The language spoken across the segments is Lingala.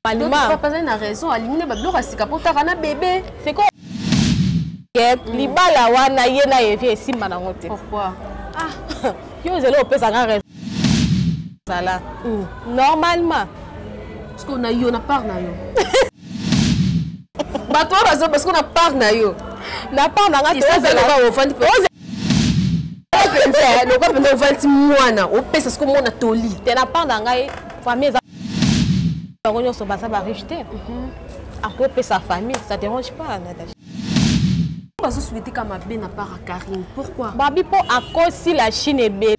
Malima. Papa azali na raison alingi nde babiloko ya sika mpo otaka na bebe. C'est quoi? Mm. libala wana ye na evi esimba nango te ah. yo ozali opesaka raison zala mm. normalement parceke na yo na part na yo bato oyo bazo basiko na part na yo na part na ngai mpenza lokola mpenza ovalisi mwana opesa siko mwana toli te na part na ngai famille eza bango nyonso baza bariche te mhm. akopesa famille ça dérange pas natacha bazosueteka mabe na part ya karine pourquoi babi mpo akosi la chine ebele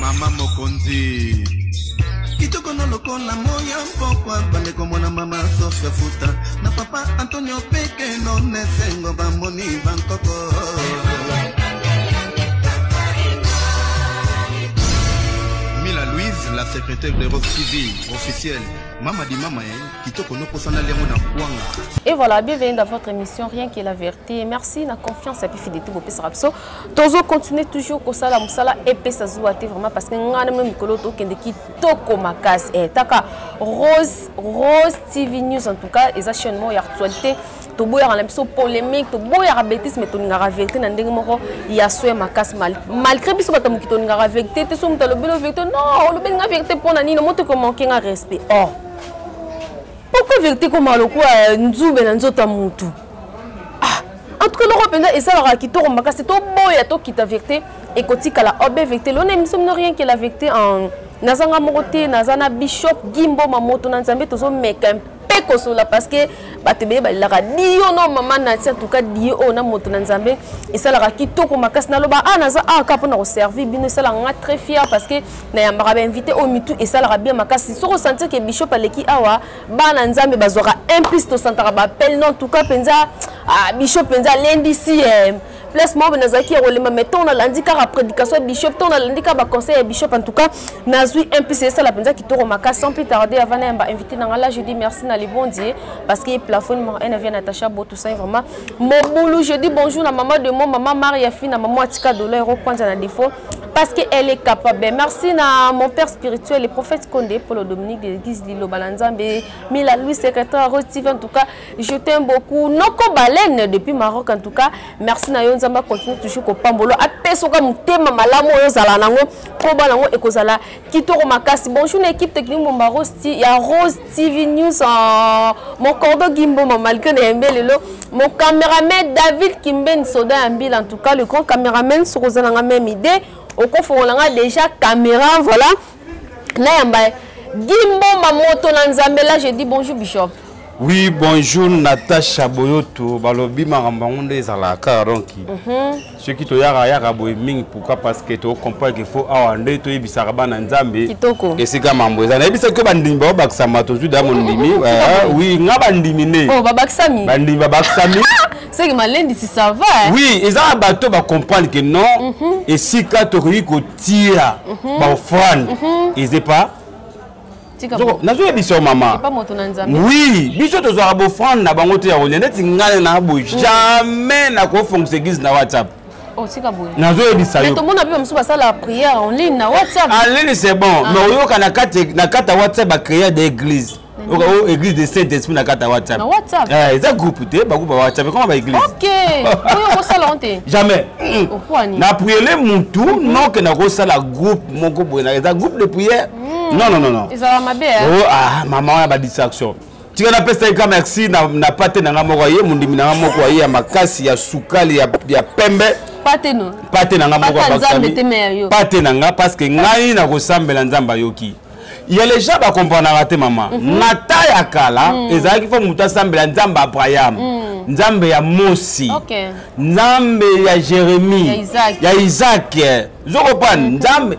mama mokonzi kitoko na lokola moya mpokwa bandeko mwana mama sofia futa na papa antonio peke nonesengo bamoni bankoko mila louise la secrétaire de rock tv officielle mama di mama eh, kitoko nokosana liango na kwanga et voilà bienvenue dans votre émission rien que la vérité merci na confiance ya pifidete bopesaka biso tozo continuer toujours kosala mosala epesa zuwa te vraiment parce que ngai na mino mikolo tokende kitoko makasi eh, taka rose rose tv news en tout cas eza chaîne moko ya actualité toboyaka na biso polémique toboyaka bétise mais tolingaka vérité na ndenge moko ya soya makasi malgré biso bato moki tolingaka vérité te so moto alobeli o vérité non olobeli nga vérité mpo na nini moto ekomanke nga respect or oh. pourquoi vérité komaka lokola nzube na nzoto ya motu en tout cas eloko mpenza esalaka kitoko makasi toboya tokita vérité ekotikala obe oh, vérité lona émission mino rien que la vérité en naza nga moko te naza na bishop gimboma moto na nzambe tozomeka mpe kosola parce que bato ebele balelaka dio no mama nati antuka dio oyo na moto na nzambe esalaka kitoko makasi naloba a ah, naza a ah, kaka mpo na koservir bino esalaka nga très fier parce que nayambaka bainvité oyo mitu esalaka bien makasi soki osentir ke bishop aleki awa bana nzambe bazwaka un plus tosantaka bapele no entuka mpenza ah, bisho mpenza alendisi eh. place moko nazalaki ya kolemba mai ntango nalandi kaka prédication ya bishop ntango nalandi kaka baconseil ya bishop en tout cas nazwi un plus esala mpenza kitoko makasi sans plus tarde avant na yamba invité na ngai là je dis merci na libondi parce que plafond numéro 1 avia natacha botousai vraiment mobulu je dis bonjour na mama de mo mama maria fi na mama atika doleur okwanza na défaut parce que elle est capable merci na mon père spirituel le prophète Condé Polo Dominique de l'église Liloba na Nzambe Mila Louis secrétaire Rose TV en tout cas je t'aime beaucoup Noko Baleine depuis Maroc en tout cas merci na yo Nzamba continue toujours ko pambolo apesoka mutema malamu oyo zala nango po bana ngo ekozala kitoko makasi bonjour na équipe technique Bomba Rose ya Rose TV News en mon cordo Gimboma malgré Nehembe Lelo mon caméraman David Kimben Soda Ambil en tout cas le grand caméraman Sokozana nga même idée okofongola nga déjà caméra voilà nayamba Gimboma moto na Nzambe là je dis bonjour bishop oui bonjour Natacha Boyoto balobi makambo yango nde ezalaka donc mm -hmm. soki toyaka yaka boye mingi pourquoi parce que tocomprendre qu'il faut awa nde toyebisaka bana nzambe esika mambo eza nayebisaki yo bandimi babakisama tozwi da mondimi wi nga bandimi nde oh, bandimi babakisami seke malendisi ça va hein? oui eza na bato bacomprendre que non mm -hmm. esika tokoki kotia mm -hmm. baofrande mm -hmm. eza epa nazoyebisa yo mama wi biso tozwaka bofrande na bango te ya kolia neti ngai na boye mm. jamais nakofongusa eglise na whatsapp oh, nazoyebisa yotomona mpe bamosusu basala prière en ligne na whatsapp en ligne c'est bon ah. mais oyoka na kati ya whatsapp bacréa de église oka o oh, église de saint esprit na kati ya whatsapp eh, eza groupe te bagroupe ya whatsapp ekoma baéglise jamais na priele mutu mm-hmm. noke nakosala groupe moko boye eza groupe de prière Hmm. Non non non non. Ezala mabe hein. Oh ah maman wana ba distraction. Tika na pesa ka merci na na pate na nga moko ye mundimi na nga moko ye ya makasi ya sukali ya ya pembe. Pate no. Pate na nga moko ba Nzambe te me yo. Pate na nga parce que ngai na ko sambela Nzambe ayoki. ya les gens bakomprenaka te mama mm -hmm. na ta ya kala mm. ezalaki fo moto asambela nzambe abraham mm. nzambe ya mosi okay. nzambe ya jérémie ya isaac, ya isaac. zokopane mm -hmm. nzambe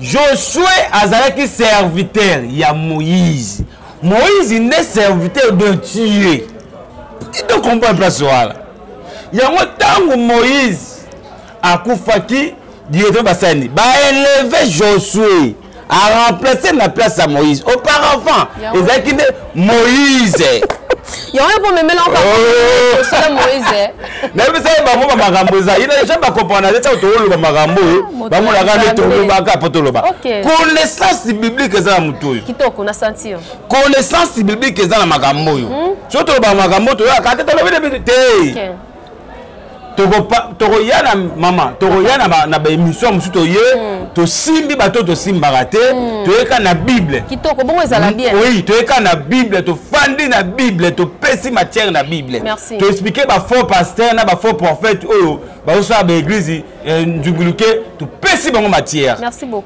josue azalaki serviteur ya moïse moïse nde serviteur de dieu tito comprendre place wana yango ntango moïse akufaki directement basani baeleve josue aremplace na place ya moïse auparavant ezalaki nde moise yango ye pomemela osala moise nayebisa ye bango bamakambo eza ye naja bakomprana te ntango tokoloba makambo oyo ah, bamonaka nde tolobaka mpo toloba connaissance biblique eza na motu oyo kitoko na sentir connaissance biblique eza na makambo oyo hmm? soki tolobaka makambo toyaka te tolobi te tokoya na mama tokoya na baémission mosusu toye hmm. tosimbi bato oyo tosimbaka te hmm. toyeka na bible kitoko bongo ezala hmm. bien oui toyeka na bible tofandi na bible topesi matière na bible toexplike bafaux pasteur na bafaux prophète oyo bazosala baeglize eh, nzunguluke topesi bango matière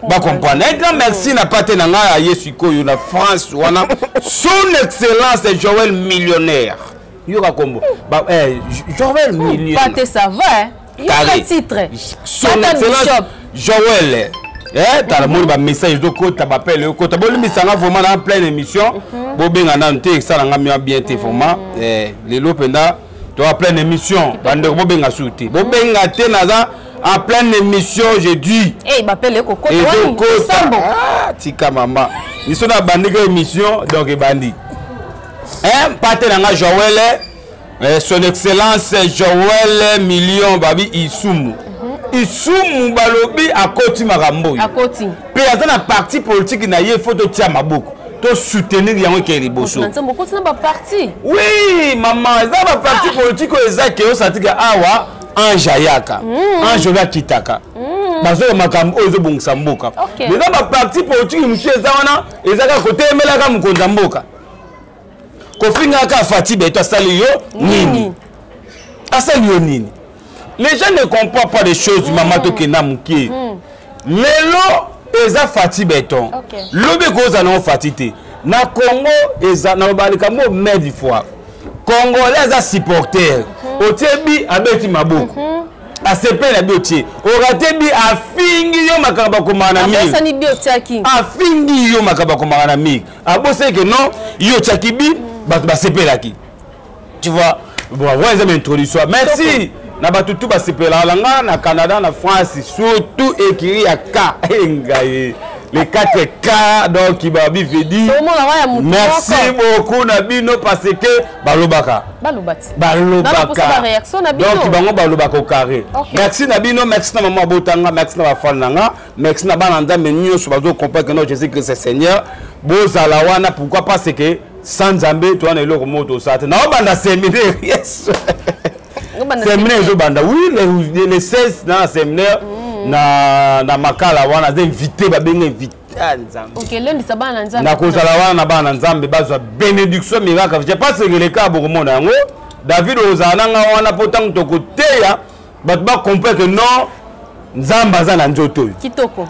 bacomprendre un grand merci na pate na ngai ya ye sikoyo na france wana son excellence joel millionnaire yoka kombo ba eh Joël Milieu pas te ça va hein yoka titre son excellence Joël eh, eh tala moni ba message ezo kota ba appel yo kota bolimbisa nga vraiment na pleine émission mhm. bo benga na nte esala nga mia bien te vraiment mhm. eh lelo penda to a pleine émission bande bo benga su te bo benga te naza en pleine émission je dis eh ba appel ko kota ezo kota ah, tika mama biso na bandika émission donc ebandi eh, mpate na nga joel eh, son excellence joel million babi isumu mhm. isumu balobi akoti makambo oyo mpe aza na parti politike na ye fo totia maboko tosoutenir yango ekei liboso oui mama eza baparti ah. politike oyo eza ke osatika awa ange ayaka hmm. ange oyo akitaka hmm. bazoya makambo oyo ezobongisa mboka eza baparti politike mosusu eza wana ezaka kotemelaka mokonzi ya mboka kofingaka kaka fati beto asali yo nini asali yo nini les gens ne comprend pas des choses mama mm. tokenda mokie mm. lelo eza fati beton okay. lobi ekozala nango fati te na congo eza naloba likambo oyo mille fois congolais aza supporter mm -hmm. otie bi abeti maboko mm -hmm. asepeli na bi otie orate bi afingi yo makambo akomaka na mire afingi yo makambo akomaka na mire abosani ke non yo otyaki bi bato basepelaki tu vois bon wana eza baintroduction merci na bato tu basepelaka na nga na canada na france surtout ekiri ya ka engaye les 4 cas donc babi vedi merci beaucoup na bino parce que balobaka balobakadonc bango balobaka au carré merci na bino merci na mama abotanga merci na bafane na nga merci na bana nzambe nyonso bazo comprendre que non jésus christ est seigneur bozala wana pourquoi pas c'est que sans nzambe toza na eloko moko tosala te naobanda seminaire yes seminaire ezobanda oui le, le 16 na seminaire mm. na, na makala wana aza invité babenga invité ah, nakozala wana na bana na nzambe bazwa bénédiction miraka je pense que leka bokomona yango david ozala na nga wana mpo ntango tokoteya bato ba comprendre que non nzambe aza na nzoto oyo kitoko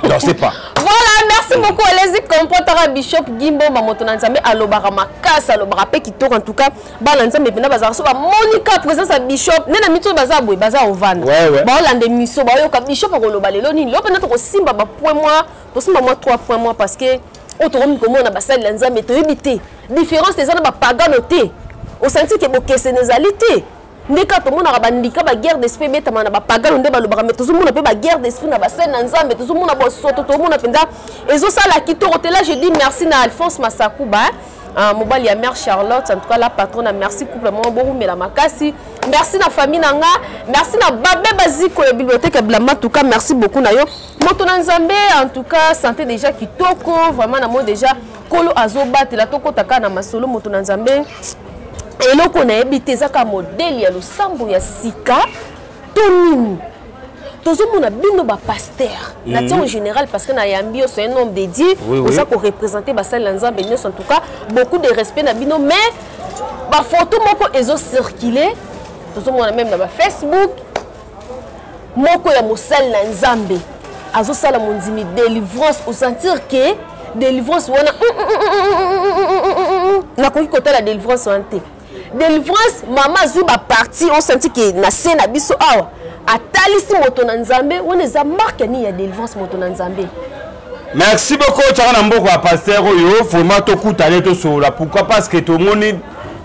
non c'est pas voilà merci beaucoup elezi comprendre bishop gimboma moto na nzambe alobaka makasi alobaka mpe kitoko en tout cas bana nzambe mpena bazalaka so bamoni ka présence ya bishop nde na mito oyo baza boye baza ovanda baolanda emiso baoyoka bishop akoloba lelo nini lelo mpena tokosimba bapoint mwa tosimba mwa 3 point mwa parce que oyo tokomi komona basali ya nzambe toyebi te différence eza na bapagano te osanti ke bokeseni ezali te nde kaka tomonaka bandika baguerre d'esprit ebetama na bapagano nde balobaka mai tozomona mpe baguerre d'esprit na basene na nzambe tozomona bosoto tozomona mpenza ezosala kitoko te la je dis merci na alphonse masakuba hein? Uh, mobali ya mère charlotte en tout cas la patronne merci couple moko bowumela makasi merci na famille na nga merci na babe baziko ya bibliothèque ya blama tout cas merci beaucoup na yo moto na nzambe en tout cas santé déjà kitoko vraiment na moi déjà kolo azobatela tokota kaka na masolo moto na nzambe eloko nayebi te ezaka modele ya losambo ya sika to nini tozomona bino bapaster mm -hmm. na tiango mhm. général parce que nayambi yo c'est un homme dédié oui, oza oui. korepresente basali na nzambe nyonso en tout cas beaucoup de respect na bino mais bafoto moko ezocircule tozomona meme na bafacebook moko ya mosali na nzambe azosala mondimi délivrance osentir ke délivrance wana nakoki kotala délivrance wana te délivrance mama azwi baparti osentir ke na se na biso awa atalisi moto na nzambe wana eza marke nini ya délivrance moto na nzambe merci beaucoup otyaka na mboko ya paster oyo vraimen tokutana ye tosolola pourquoi parce que tomoni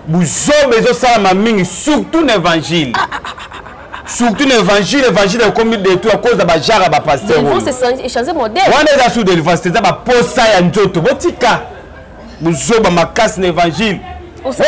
buzoba ezosalama mingi surtout na évangile ah, ah, ah. surtout na évangile évangile ekomi détruit à cause ya bajara bapaster wana eza sur délivrance eza baposa ya nzoto botika bozoba makasi na évangile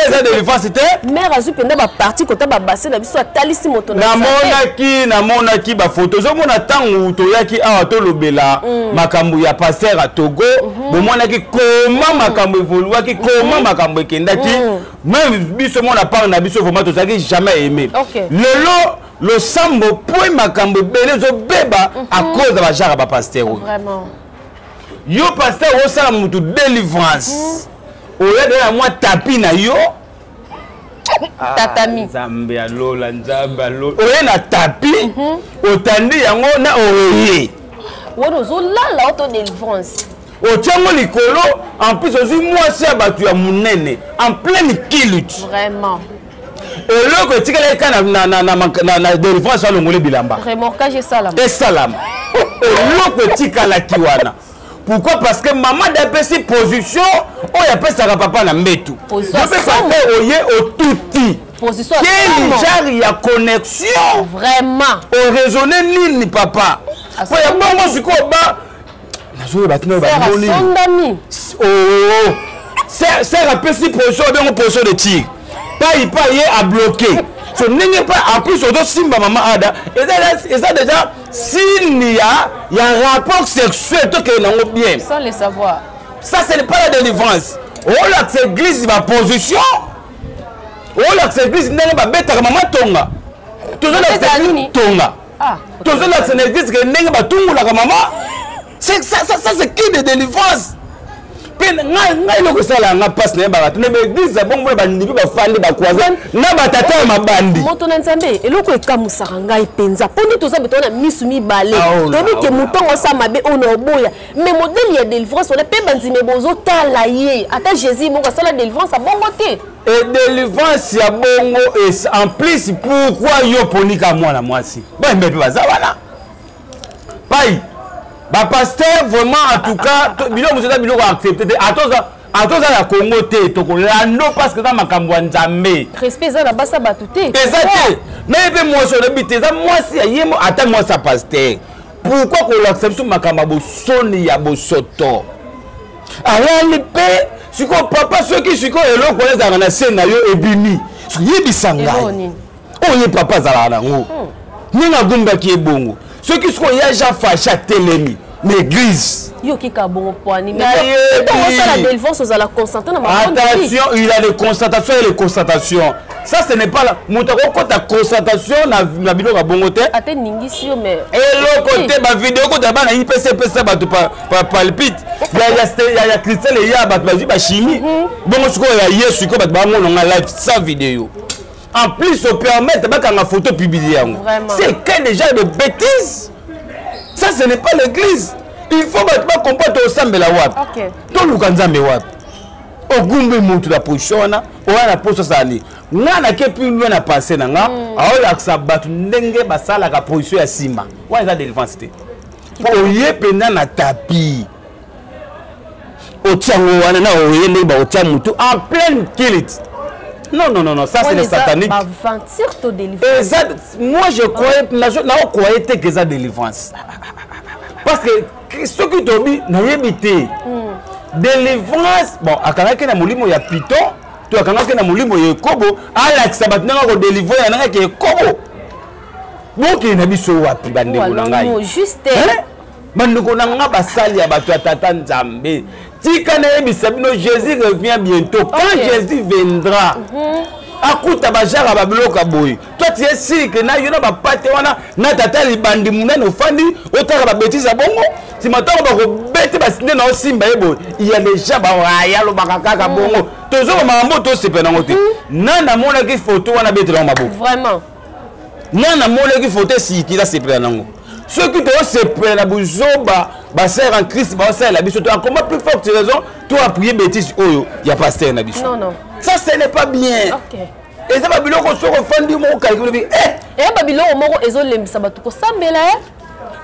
eza délivrance te mare azwi mpenza baparti kota babase na biso atalisi moto namonaki namonaki bafoto ozomona ntango toyaki awa tolobela mm. makambo ya paster ya togo mhm. bomonaki koma mm. makambo evoluaki koma mm. makambo ekendaki mm. Même biso mona part na biso vraiment tozalaki jamais aimé. Okay. Lelo losambo point makambo ebele ezobeba mm -hmm. à mhm. cause ya bajara bapasteur oyo. Vraiment. Yo pasteur osala motu délivrance. Mm -hmm. Oya de la mwa tapi na yo. Ah, tatami nzambe ya lola nzambe ya lola oye na tapi mhm. otandi yango na oye wana ozolala oto delivrance otia ngo likolo en plus ozwi mwasi ya bato ya monene en pleine kilut vraiment eloko etikala eka na delivrance alongoli bilamba esalama eloko etikalaki wana pourquoi parce que mama dapesi position oyo apesaka papa na mbetu yope papa oye otuti quel genre ya connexion vraiment oraisonne nini papa mpo ya bongo sikoyo ba nazoyeba tina basondami ser apesi position abengo position de tir pai pai ye abloke so ndenge mpe en plus ozosimba mama ada eza déjà signe ya ya rapport sexuel tokende nango bien sans le savoir ça ce n'est pas la délivrance olakisa oh, église baposition olakisa oh, église ndenge babetaka mama tonga tozolakisa tonga Ah, tozolakisa na eglise ke ndenge batungolaka mama ça c'est qui de délivrance mpe ngai eloko esala yanga mpasi na ye bato na baeglise ya bongo mpe bandimi mpe bafandi bakwaza na batata ya mabandi moto na nzambe eloko ekamusaka ngai mpenza mpo nde toza betona na misu mibale ah, oh, toyebi oh, ke motongo asa mabe oyo na oboya mais modele ya délivrance wana mpe bandimi bozotala ye ata jésus moko asala délivrance abongo te e delivrance ya bongo es en plus pourquoi yo poni ka mwana mwasi bayembe mpe baza wana pai bapaster vraiment en tout cas biloko mosusu eza biloko accepte te atoza atoza na congo te tokolando parce que eza makambo ya nzambe respect eza na basa bato te eza te naye mpe mwasi olobi te eza mwasi ya ye ata mwasi ya paster pourkoi kolakisa biso makambo ya bosoni ya bosoto alali mpe sikoyo papa soki sikoyo eloko oyo ezalaka na se na yo ebimi yebisa ngai oyo oh, ye papa azalaka nango hmm. ndenge agumbaki ye bongo soki sikoyo ya jean fache atelemi na église yokika bongo pwani osala delvance ozala concentre na attention il a les constatations et les constatations ça ce n'est pas là moto akokota constatation na, na biloko ya bongo te ate ningisi yo mais eloko eh, eh. te bavideo ekota bana ipc epesa bato palpite ya christian eya bato bazwi bachimie mhm. bongo sikoyo ya yesu sikoyo bato bamona nga live sans video en plus opermettre bakanga photo publie yango c'est quel déjà de bêtise ça ce n'est pas l'église il faut bato bakomprendre tosambela wapi toluka nzambe wapi ogumbi motu na position wana oya na poso azali nga nake plus loin na pensé na nga mm. aolakisa bato ndenge basalaka position ya nsima wana eza délivrance te mpo oye mpenza na tapi otiango wana na oye ndenge baotia motu en pleine kilite Non, non, non, non, ça c'est le satanique. Moi je croyais, je croyais que ça délivrance. Parce que soki tobi nayebi te hmm. délivrance bon akangaki na molimo ya piton to akangaki na molimo ya ekobo alakisa bato ndenge akodelivre ya nangaki ekobo bokende na biso wapi bandeko na ngai bandeko na ngai basali ya bato ya tata nzambe tika nayebisa bino jésus revient bientôt quand okay. jésus viendra mm -hmm. akuta bajara babiloko ya boye toi tu es sûr que na yo na bapate wana na tata libandi munene ofandi otaka babetise ya bongo nsima ntango bakobete basinde na osimba ye boye ya deja bawaya alobaka kaka mm. bongo tozoma makambo tosepela yango te mm. na namonaki foto wana betelango maboko vraiment na namonaki foto esikila sepela nango soki tosepela na buzoba basere en christ baosalela biso to akoma plus forte raison to appuye bétise oyo ya pastere na biso ça ce n'est pas bien okay. eza babiloko soki ofandi moko kaliki olobi eh! eya eh, babiloko moko ezolembisa bato kosambela e eh?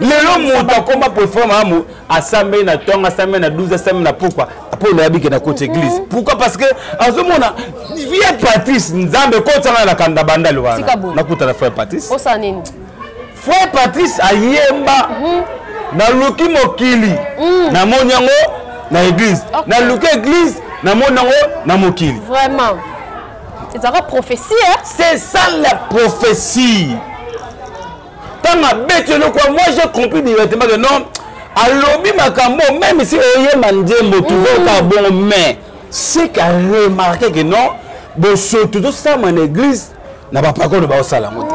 lelo moto akoma prefer mamu asambeli na ntongo asambeli na 12 asambeli na pokwa mpo nayabi ke na koti église mhm. pourquoi parce que azomona vie patrice nzambe kotisanga na kanda bandali wana nakutana frère patrice frère patrice ayemba mhm. naluki mokili mhm. namoni yango na église naluki église namoni yango na mokili vraiment ezalaka prophetie eh? c'est ça la prophetie ntango abeti eloko ya moi j'ai compris directement que non alobi makambo même si oyemba nzembo tuzokaka mm. bongo mais c'est qu'à remarquer que non bosoto tosala na église na bapakolo baosala yango te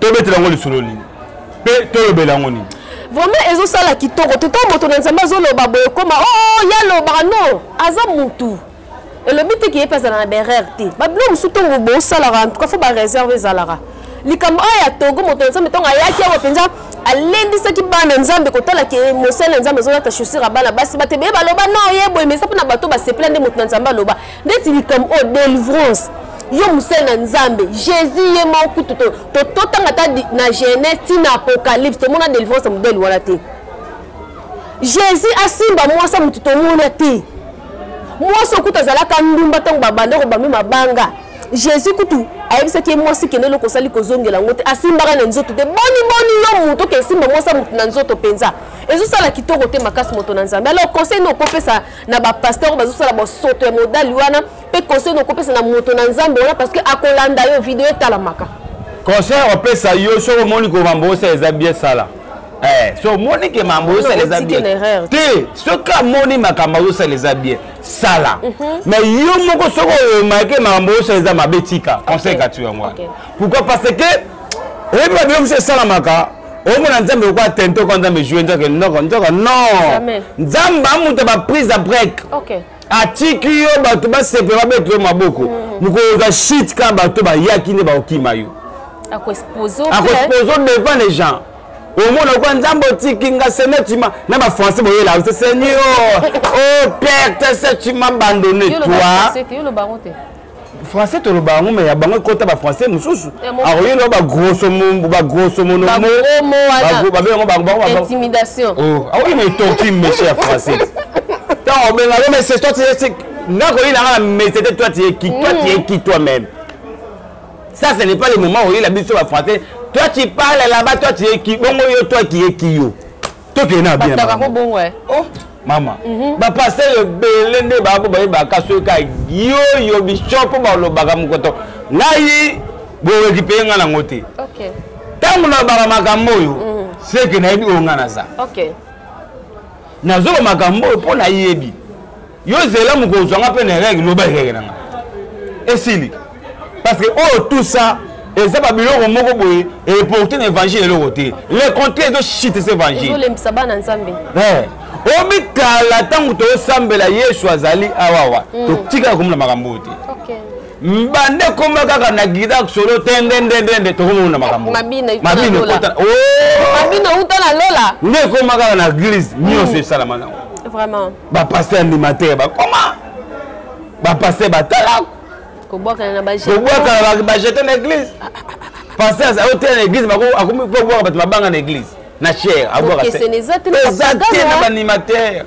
tobetela yango lisolo nini mpe tolobela yango nini vraiment ezosala kitoko teta moto na nzambe azoloba boye ekoma o oh, ye alobaka no aza motu elobi te keye mpe azala na berere te babilo mosusu ntongo bosalaka antuka fo bareserve ezalaka likambo oyo ya togo moto na nzambe ntongo ayaki awa mpenza alendisaki bana nzambe kotala ke mosali na nzambe azolata chaussure ya bana basi batebeye baloba no ye boye mesa mpo na bato basepela nde moto na nzambe aloba ndeti likambo oyo delivrance yo mosali na nzambe jésus ye moko kutu totanga ata na genèse ti na apocalypse tomona délivrance ya modele wana te jésus asimba mwasi motu tomona te mwasi okutu azalaka ndumba ntango babanda kobambi mabanga jésus kutu ayebisaki ye mwasi kende eloko osali kozongela yango te asimbaka na nzoto te boni boni yo moto oke esimba mwasi ya motu na nzoto mpenza ezosala kitoko te makasi moto na nzambe alors conseil nokopesa na bapasteur oyo bazosala bosoto ya modali wana mpe conseil nokopesa na moto na nzambe wana parce que akolanda yo video etalamaka conseil opesa yo soki omoni ko mambo osa eza bien sala eh, so omoni ke mambo osala eza bien te soki amoni makambo azosala eza bien sala mhm. mais yo moko soki oyomake makambo osala eza mabe tika conseil kati yango wana pourquoi parce que oyebi babilo mosusu esalamaka omona nzambe lokola tente okoa nzambe joue nzoke noko nzoka non nzambe amuta baprise a break atiki yo bato basepela babeta yo maboko mm. mokolo oza shit kaka bato bayaki nde bakokima yo akoexpose devant les gens omona kwa nzambe otiki nga senetima na bafrançais boyela yo seigneur o oh, père te setima bandone toi français toloba yango me ya bango ekota bafrançais mosusu akoki no bagrossomonomobabe yango akoki na etorki meshe ya français ntango obenga yo mese toi tiye nga koyi na nga na mese te toi tiye ki toi tiye ki toi même ça ce n'est pas le moment oyela biso bafrançais toi tu parle là-bas toi tiye ki bongo yo toi kiye ki yo tokende na bien bakako bongo eh. oh. mama mhm. bapasteur ebele nde bako bayebaka soki ka yoyo bishop mpo balobaka mokoto ngai borekipe ngai nango te ntango nalobaka makambo oyo mhm. seke nayebi oyo ngai naza nazoloba makambo oyo mpo nayebi yo zela mokolo ozwa nga mpe na erege loba erege na nga esili parce que oyo tout ça eza babiloko moko boye eporte na évangile eloko te le contraire ezoshite se évangilelembisa bana nzambe eh, omikala ntango toosambela yesu azali awawa mm. totikala komona makambo oyo te mbande ekoma kaka na gida solo tendendendende tokomona makambo mabino uta na lola nde ekoma kaka na eglise nyonso mm. esalama nango bapaster animateur bakoma bapaster batala kobwakana na bajete na église ah, ah, ah, paster aotela na église akomi kobwaka bato mabanga na église na chair abwaka eza te na baanimateur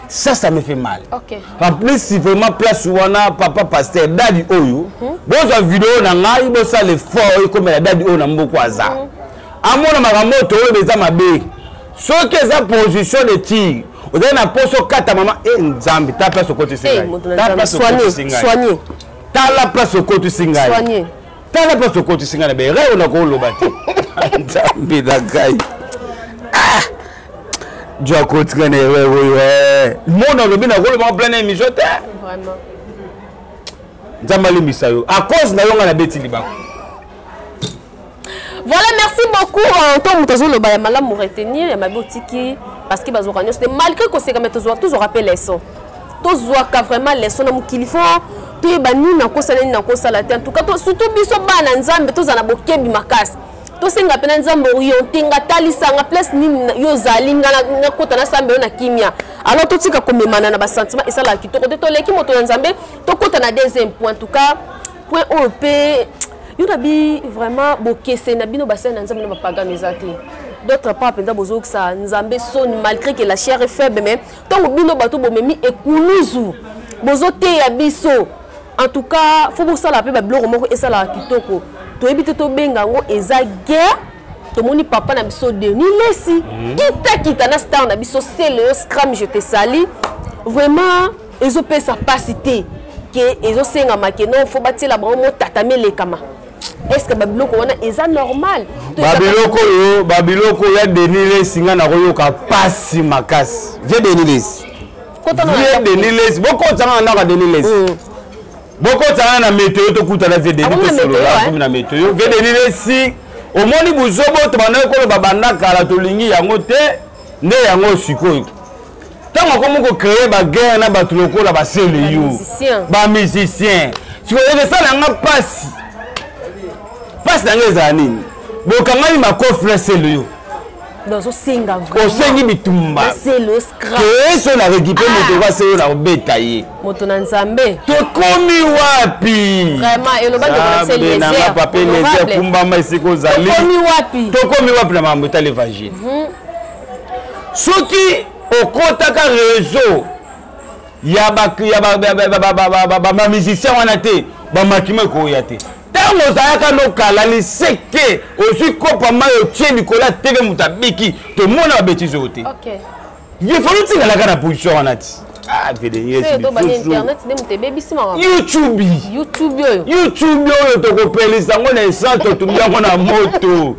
ça ça me fait mal okay. en plus vraiment place wana papa pasteur dadi oyo mm -hmm. bozwa video na ngai bosala effort ekomela dadi oyo na mboku aza mm -hmm. amona makambo oyo toloba eza mabe soki eza position de tire ozali na mposa okata mama e eh, nzambe ta place okotisi eh, ngai tala place okotisi ngai tala place okotisi ngai na bere oyo nakoloba te nzambe na ngai ah! jo akotika na ere oyo eh. mona olobi nakoloba ngo plan na émission te nzambe alimbisa yo a cause na yo ngai nabeti libako Voilà, merci beaucoup. En tant que nous avons malam pour retenir, il y a ma boutique parce que bazouka nyos. Malgré que c'est comme tous tous rappel leçon. Tous zouka vraiment leçon na mukili fo. Tous ba ni na kosa ni na kosa la En tout cas, surtout biso ba na nzambe tous na bokebi makasi. tosenga mpe na nzambe oriente nga talisanga place nini yo ozali nga nakota na sambe yo na kimia alors totika komemana na basentiment esalaka kitoko te toleki moto na nzambe tokota na deuxième point en tout cas point oyo mpe yo na bi vraiment bokese na bino basali na nzambe na bapagano eza te d'autre part mpenza bozokisa nzambe soni malgré que la chair est faible mais ntango bino bato bomemi ekuluzu bozoteya biso en tout cas fo bosala mpe babiloko moko esalaka kitoko toyebi te tobenga yango eza guerre tomoni papa na biso denis lesi mhm. kitakita na star na biso seleyo scram je te sali vraiment ezo pesa pasi te ke ezo senga ma ke non faut batiela bango mo tata melekama est ce que ba biloko wana eza normal ba biloko yo ba biloko ya denile singa na koyoka pasi makasi vie denile vie denile boko tsanga na ka denile bokotana na meteo tokutana vedeni tosolola eh? na meteo vedeni lesi omoni buzobo tobandaki koloba banda kala tolingi yango te nde yango sikoyo ntango akomi kocreye baguerre na bato lokola basele yo bamusicien sikoyo ekosala nga mpasi mpasi na nga ezala nini bokangami makofi na sele yo osengi bitumba keye so na rekipe ah. moto oka seyo na kobeta ye moto na nzambe tokomi wapi nanga pape lezer kumbama esika ozali tokomi wapi na mambo etali evangile mhm. soki okotaka réseau ya bamusicien wana te bamakima ekoya te ntango ozalaka nokala liseke ozwi kopa mai otie likolo ya teve moto abiki tomona babetize oyo te yefali otikalaka na position wana ti ah, youtube youtube oyo tokopelisa yango na essence totumbi yango na moto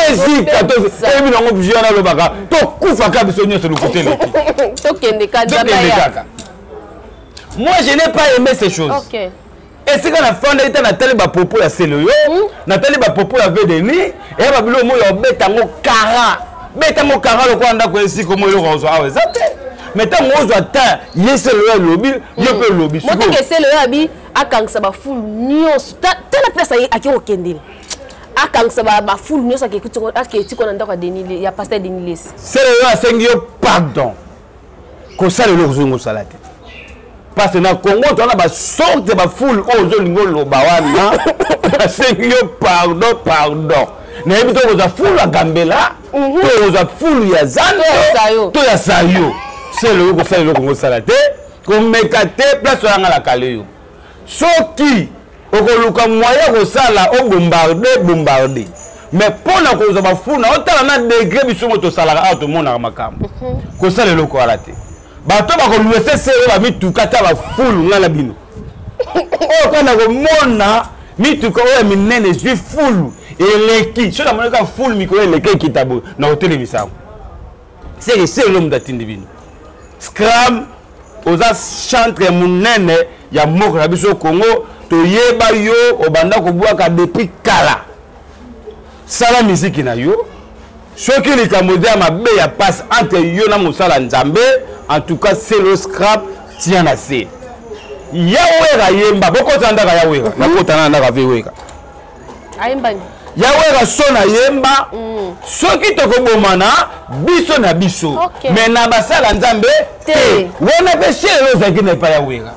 ezika toyebi nango vieux wana alobaka tokufaka biso nyonso lokuta eleki tokende kaka moi je n'ai pas aimé ces choses okay. esika nafandaki ta natali bapropo ya seloyo hmm? natali bapropo ya vedeni eya babilo omo ya obeta yango kara beta yango kara lokola ndako esika omo eloko ozwa awa eza te mais ntango ozwa ta ye seloyo alobi yo mpe hmm. olobi moteke seloyo abi akangisa bafulu nyonso tala place aye ake kokendela akangisa bafulu nyonso aketiko na ndako ya pasteur denis lesi sele yo asengi yo pardon kosala eloko ozongi osala te parce na congo towana basorte ya bafulu oyo ozolingi oloba wana asengi yo pardon pardon nayebi to kozwa fulu ya gambela mhm. to kozwa fulu ya zando to ya sayo sele yo kosala eloko ngosala te komeka te place oyanga na kale yo soki okoluka moyen ya kosala obombarde bombarde mais mpo na kozwa bafuna otala na degre biso ngo tosalaka awa tomonaka makambo mhm. kosala eloko wana te bato bakoluesese oyo bamituka ata bafulu ngai na bino oyo kanda komona mituka oyo ya minene ezwi fulu eleki soki namonaka fulu mikolo eleki ekita boye na kotelemisa yango c'est le seul homme datindi bino scram oza chantre monene ya mboka na biso congo toyeba yo obanda kobwaka depuis kala sala miziki na yo soki likambo eza ya mabe ya mpasi entre yo na mosala nzambe en tout cas selo scrap tia na se yawera yemba bokota ndaka yawera nakota na ndaka vewera ayembani ya werason ayemba mm. soki tokobomana biso na biso okay. me na basala nzambe te wana mpe selo ozalaki na epai ya wera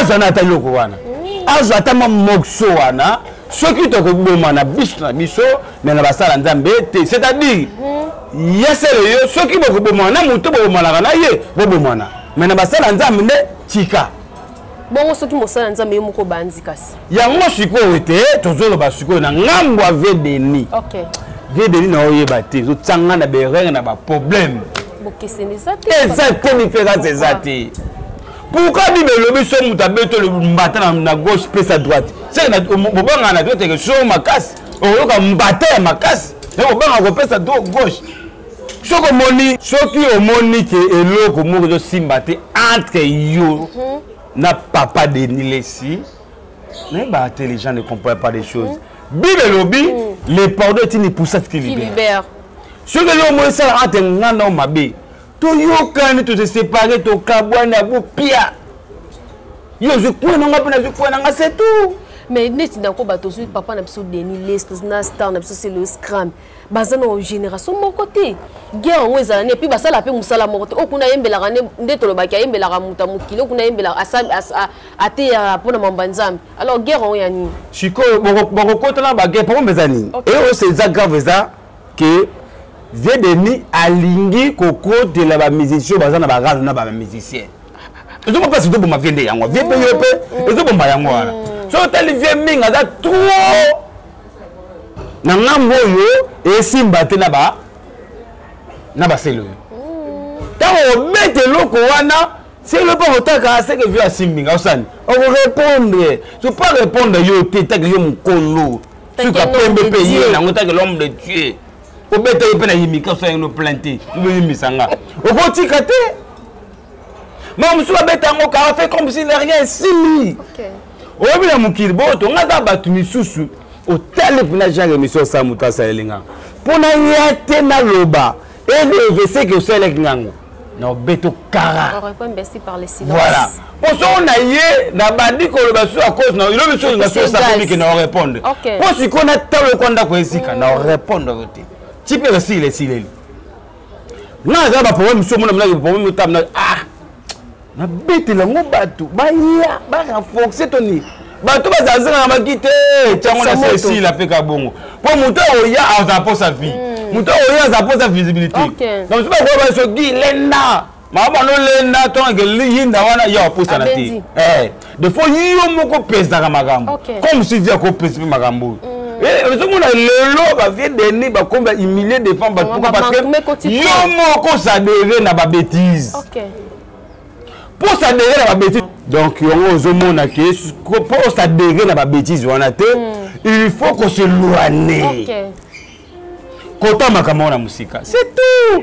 azwa na ata eloko wana mm. azwa ata mwa mokso wana soki tokobomana biso na biso me na basala nzambe te c'est-à-dire mm. ya selo yo soki bokobomana na moto bobomanaka na ye bobomana me na basala nzambe nde tika bongo soki mosala ya nzambe yo moko obanzi kasi yango sikoyo te tozoloba sikoyo na ngambo ya vedeni okay. vedeni na oyeba te ezotyanga na berere na baproblème eza te miference eza te pourkoi bible elobi so moto abeto mbata na gauche mpe sa droite bobanga na droite eke so makasi okoyoka mbata ya makasi me kobanga kopesa gauche soki omoni soki omoni ke eloko moko ezosimba te entre yo mhm. na papa denis lesi naye ba intelligent ne comprend pas des choses mhm. bible elobi mhm. le pardon etini poussate qui libère soki eloko moko esala entre nga nao mabe toyokani tosesepare tokabwani abopia yo ozwi kue nanga mpe nazwi kue nanga se tout mais neti ndako bato ozwi papa na biso denis les na star na biso se le scram baza na génération moko te guerre yango ezala nde epuis basala mpe mosala moko te oyo kuna ayembelaka nde tolobaki ayembelaka moto ya mokili oyo kuna ayembelaka ateyaka mpo na mamba nzambe alors guerre yango ya nini sikoyo bakokotana baguerre problème eza nini eos eza grave eza ke vie de nuit alingi kokotela bamusicien oyo baza na barano na bamusicien ezoma mpasi ezoboma vie nde yango vie mpe yo mpe mm. ezoboma yango wana mm. soki otali vie mingi aza trop na ngambo oyo esimba te na ba na baselo oyo ntango obeta eloko wana selo mpo kotaka seke vio asimbi nga osani okorepondre so pas repondre yo te take yo mokolo suka pembe mpe ye nango take l'homme de dieu obeta ye mpe na yimika osani no plainte oboyimbisa nga okotika te mama mosusu abeta yango kara fait comme si na rien esili oyebi na mokili boto nga aza bato misusu otali mpena genre émission osala moto asaleli nga mpo na ya te naloba eleveseke osalelaki ngango na obeto kara voilà mpo soko na ye na bandi koloba susu a cause na ilobi susu nga susu esakomike na orépondre mpo sikoyo natala okwa ndako esika na orépondre te tipe esileli esileli nga naza baproblème mosusu omona monaki problème otame na ah nabetela yango bato baya barenforce to nini bato bazalazala na maki te tyango na sesila mpe kabongo mpo moto akoya aza mposa vie moto akoya aza mposa visibilité donc soki bakoya basoki lenda maa bando lenda tonake yinda wana yo apusana te eh, de fois yo moko opesaka makambo comme suivi akopesi mpe makambo oyo mm. Eh, ozomona lelo bavie deni bakomi bahumilie devant bato pourquoi parce que yo moko osadere na babétise mpo osadere na babétise donc yango ozomona ke mpo osadere na babétise wana te hmm. il faut koseloane kota makambo wana mosika c'est tout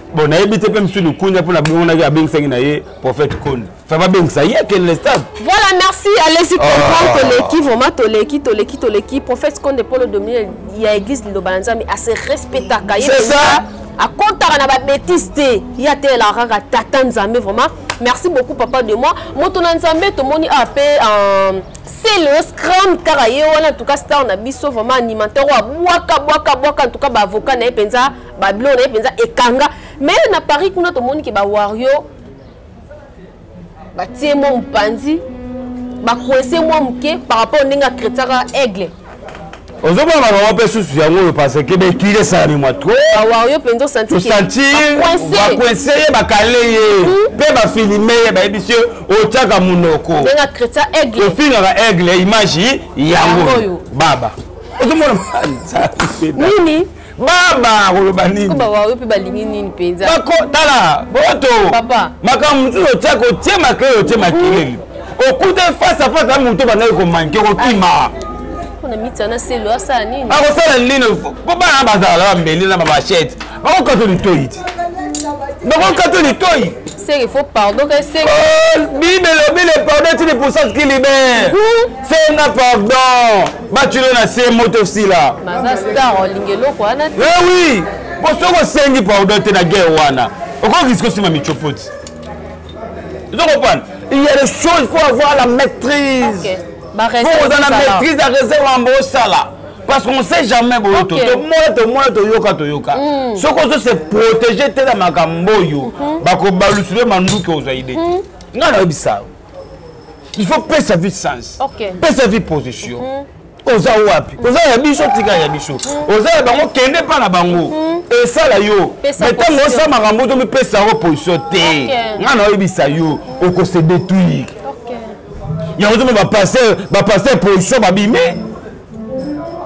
bon nayebi te mpe mosusu likunya mpo nabongonaki abengisaki na ye prophète kondi fa babengisa ye akende na stade voilà merci alesi ah. comprendre toleki vraiment toleki toleki toleki prophète konde polo domine ya église liloba na nzambe ase respectaka ye akotaka na babétise te ye atelelaka kaka tata nzambe vraiment merci beaucoup papa de moi moto na nzambe tomoni awa ah, mpe euh, selo scram kaka ye wana en tout cas star na biso vraiment animateur oyo abwaka bwaka bwaka en tout cas baavocat na ye mpenza babiloko na ye mpenza ekanga me na paris kuna tomoni ke bawario batie mwa mopanzi bakuese mwa moke par rapport ndenge akretiaka aigle ozomona makambo mpe susu yango oyo parce que bekili esalami mwa trowario mpenza osantibakuense ye bakale ye mpe mhm. bafilime ye bayebisi yo otyaka monoko ofingaka aigle image yango baba ozomona nini baba akoloba ninitala boto makambo mosusu otya kotye makele otye makeleli okuta face a face na moto bandaki komanke kokima akosala nini mpo bana bazala na mbeli na bamachete bakokata litoi ti bakokata litoi seke fo pardon ke seke oh, bible elobi le pardon ti lipusa skilibe senga pardon bacilo na se moto osila naza star olingi eloko wana te eh oui mpo soki osengi pardon te na guerre wana okokisi kosima michopoti ozo comprendre il y a des choses faut avoir la maîtrise okay. faut oza na maîtrise ya réserve yango osala parce qu'on sait jamais boyo to tomona tomona toyoka toyoka mm. soki ozo se protéger te na makambo oyo mm-hmm. bakobalusile manduki ozwa ide mm-hmm. ngai nayebisa yo il faut pesa vie sens okay. pesa vie position mm -hmm. oza wapi oza ya biso tika ya biso oza ya bango kende mpa na bango mhm. esala yo me ntango osala makambo to mipesa yango position te ngai naoyebisa yo okose détruire yango toma bapaster bapaster position babimi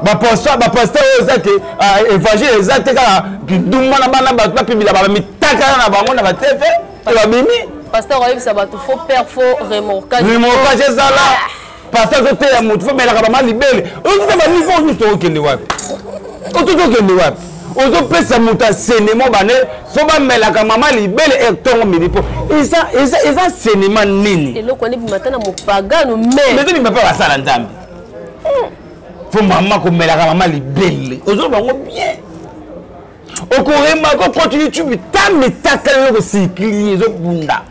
bapaster oyo eza te ah, évangile eza te kaka kindumba na bana bato bapimila bamitaka na bango na bateve te babimi pasteur ayebisa bato faux père faux remorquage remorquage ezala ah. pasteur azoteya motu fo melaka bama libele ozoza baniveau nyonso tokokende wapi ototokende wapi ozopesa moto asenemo bane so bamelaka mama libele etongo mini mpo eza senema nini eloko wana ebima ata na mopagano mezobima mpe basala nzambe mpo mama komelaka mama libele ozoba yango bien okoremaka okoti youtube ta mitakala yo kosikili ezobunda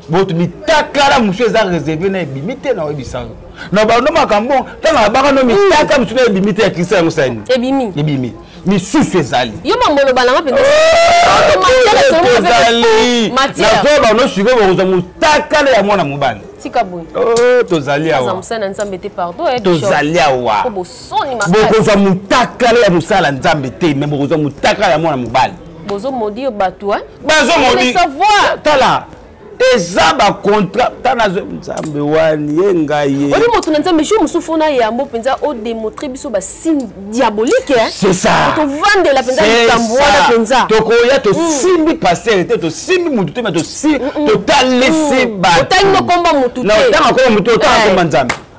boto mitakala mosusu eza reserve na ebimi te na oyebisa yo na bando makambo ntango abaka no mitaka mosusu na ebimi te ya kristo yango sani ebimi ebimi misusu ezali yo bamboloba nanga mpenzaezali nazoya bano sikoyo bokozwa motakala ya mwana mobali tika boye oh, tozali awa tozali awa bokozwa motakala ya mosala nzambe te me bokozwa motakala ya mwana mobali bozomodi bato bazomoditala eza bacontra ta nazwe nzambe wani ye ngai ye oli moto na nzambe jour mosusu fona yambo mpenza odemontre biso basigne diabolique tovandela mpenza likambo wana mpenza tokoya tosimbi mm. paster te tosimbi motu te ma totalisi mm, mm, batotali nokomba motu te ntango akomba motu otanga komba eh. nzambe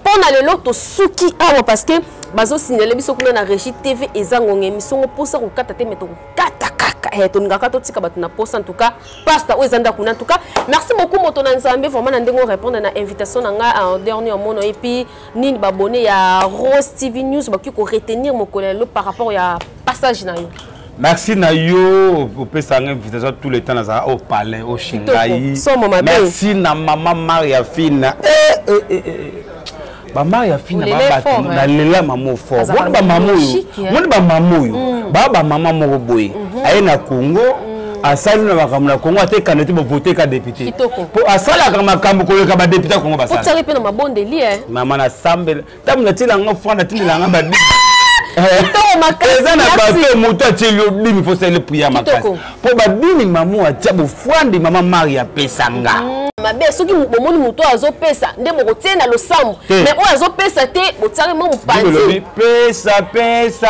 mpo na lelo tosuki awa parce que bazosignale biso kuna na régie tv eza ngonga émission ngo mposa kokata te me tokokata kaka eh, tolingaka totika bato na mposa entouka pasta oyo eza ndako na entouka merci beaucoup moto na nzambe vraiment na ndenge orépondre na invitation na ngai en dernier omono epuis nini babone ya rose tv news bakoki koretenir mokolo ya lelo par rapport ya passage na yo merci na yo opesa nga invitation tout le temps nazala au palais au shingai merci na mama maria fina eh, eh, eh, eh. eh. bamaria fina babato nalela mama oyo fort moni bamama oyo moni bamama oyo mm. baa bamama moko boye mhm. aye na congo mm. asali na makambo na congo ata ekanda te bavote ka depute mpo asalaka makambo koleka badepute ya congo basala mama nasambela ntango natiela nga fran natindela nga babi eza na bato moto atieli yo bimi fosali priya makasi mpo babimi mamo atia bofwandi mama mari apesa nga mm, mabe soki bomoni moto oyo azopesa nde bokotie na losambo me oyo azopesa te botiaki mwa mopanzi pesa pesa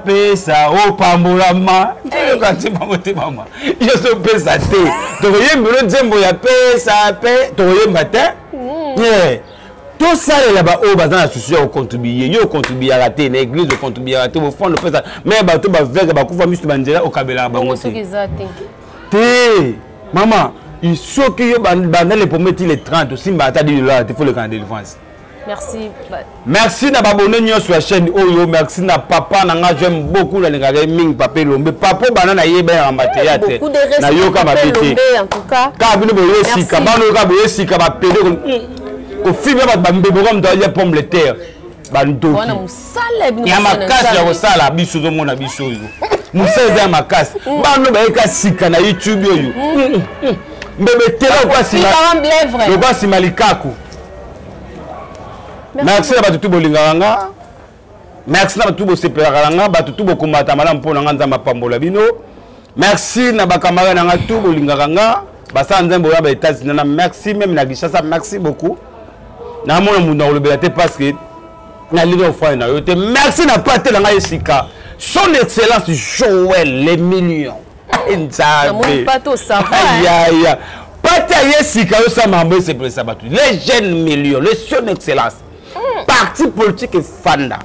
pesa opambolama eyokati bango te mama yo ozopesa te tokoyembelo nzembo ya pesa pe tokoyemba te mm. tosalela baoyo baza na susi ya kocontribuye yo ocontribuyaka te na église ocontribuyaka te bofanda opesa me bato baveugle bakufa misu banzela okabelaka bango te te mama soki yo banda le premier ti le 30 osimbaka ata 10 dollars te fo lekana délivrance merci merci na babone nyonso ya chaîne oyo merci na papa na nga j'aime beaucoup nalingaka ye mingi papa elombe papa bana nayeba ya mateya te nayoka mabe te kaka bino boye sika bana oyoka boye sika bapede kofinga bato bambeboka moto alia pomme de terre bandoki ya makasi ya kosala biso ozomona biso oyo mosala eza ya makasi mm. bano bayeka sika na youtube oyo mm. mm, mbebe tela lokwa nsima likaku merci na bato tu bolingaka nga merci na bato tu bosepelaka na nga bato tu bokomata malamu mpo na nga nzambe apambola bino merci na bakamara na nga tu bolingaka nga basala nzambe oya baetats-unis na merci meme na kinshasa merci beaucoup namona moto nakolobela te parce que nalingi ofai na yo te merci na pate na ngai esika son excellence joel le million nzambe pate aye esika yo sa mambo esepelisa bato le jeune million le son excellence hmm. parti politique efanda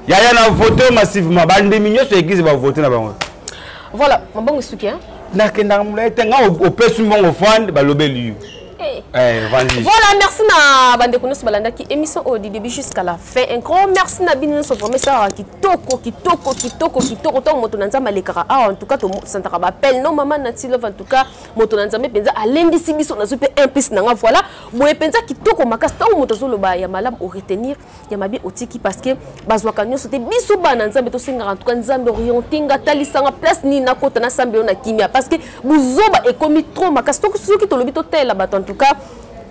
yaya na vote massivement bandimi nyonso ya eglise bavote na bango voilà mabongo esuki nakendaka molai te nga opesi mbongo fande balobeli yo Eh, eh voilà, merci na bande konos balanda qui émission au début jusqu'à la fin. Un grand merci na bino so vraiment ça qui toko qui toko qui toko qui toko tant moto na nzamba lekara. Ah en tout cas to santaka ba appel non maman na tilo en tout cas moto na nzambe mpenza alendisi biso nazwi mpe un piste na nga voilà boye mpenza kitoko makasi ntango moto azoloba ya malamu oretenir ya mabe otiki parce que bazwaka nyonso te biso bana nzambe tosengaka ntuka nzambe oriente nga talisanga place nini nakota nasambelo na kimia parce que buzoba ekomi trop makasi soki tolobi totalela bato en tout cas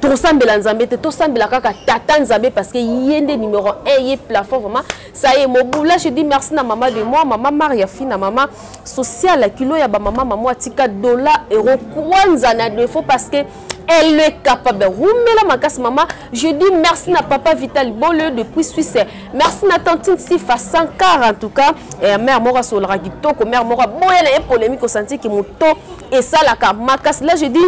tosambela nzambe te tosambela kaka tata nzambe parce que ye nde numero 1 ye plafond vraiment Ça y est, Mobula, je dis merci na maman de moi, maman Maria Fina, maman sociale, kilo ya ba maman, maman Tika, dollar, euro, kwanza na défaut parce que elle est capable. Roumela Makas Maman, je dis merci à Papa Vital Boleux depuis Suisse. Merci à Tantine Sifa Sankar en tout cas. Et à Mère Mora Solra Gitoko, Mère Mora Boyana et polémique au senti qui mouton et ça la Makas. Là je dis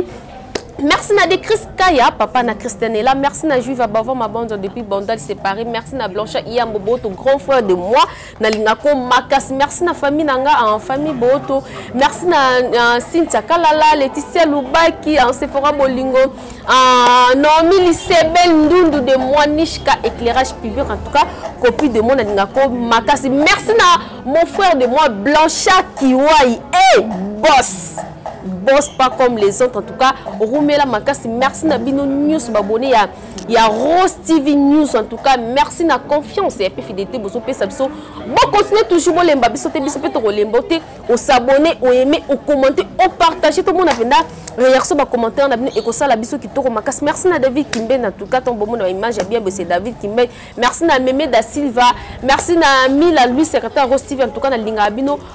Merci na de Chris Kaya, papa na Christianella. Merci na Juive Abava Mabonzo depuis Bandal séparé. Merci na Blanche Iyambo Boto, grand frère de moi. Na Lingako Makas. Merci na famille Nanga en famille Boto. Merci na uh, Cynthia Kalala, Laetitia Lubaki, en Sephora Bolingo, uh, Naomi Lisebel Ndundu de moi, Nishka éclairage public. En tout cas, copie de moi na Lingako Makas. Merci na mon frère de moi Blanchard Kiwai. Hey, boss! boss pas comme les autres en tout cas rumela makasi merci na bino news babone ya ya rose tv news en tout cas merci na confiance ya pe fidélité bozo pesa biso bo continuer toujours bolemba biso te biso pe to kolemba te o s'abonner o aimer o commenter o partager to mona penda réaction ba commentaire na bino e ko sala biso kitoko makasi merci na David Kimbe en tout cas ton bon mona image bien c'est David Kimbe merci na Meme da Silva merci na Mila Louis secrétaire rose tv en tout cas na linga bino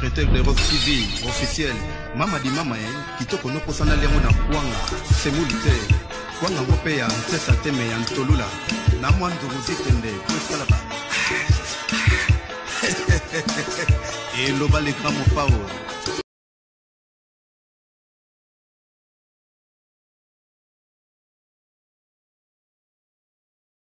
Pretel de Rock TV officiel mama di mama ye kitoko nokosana liango na kwanga semuli te kwanga ngo mpe ya ntesa teme ya ntolula na mwa ndugu zitende mpo esalaka eloba leka mopao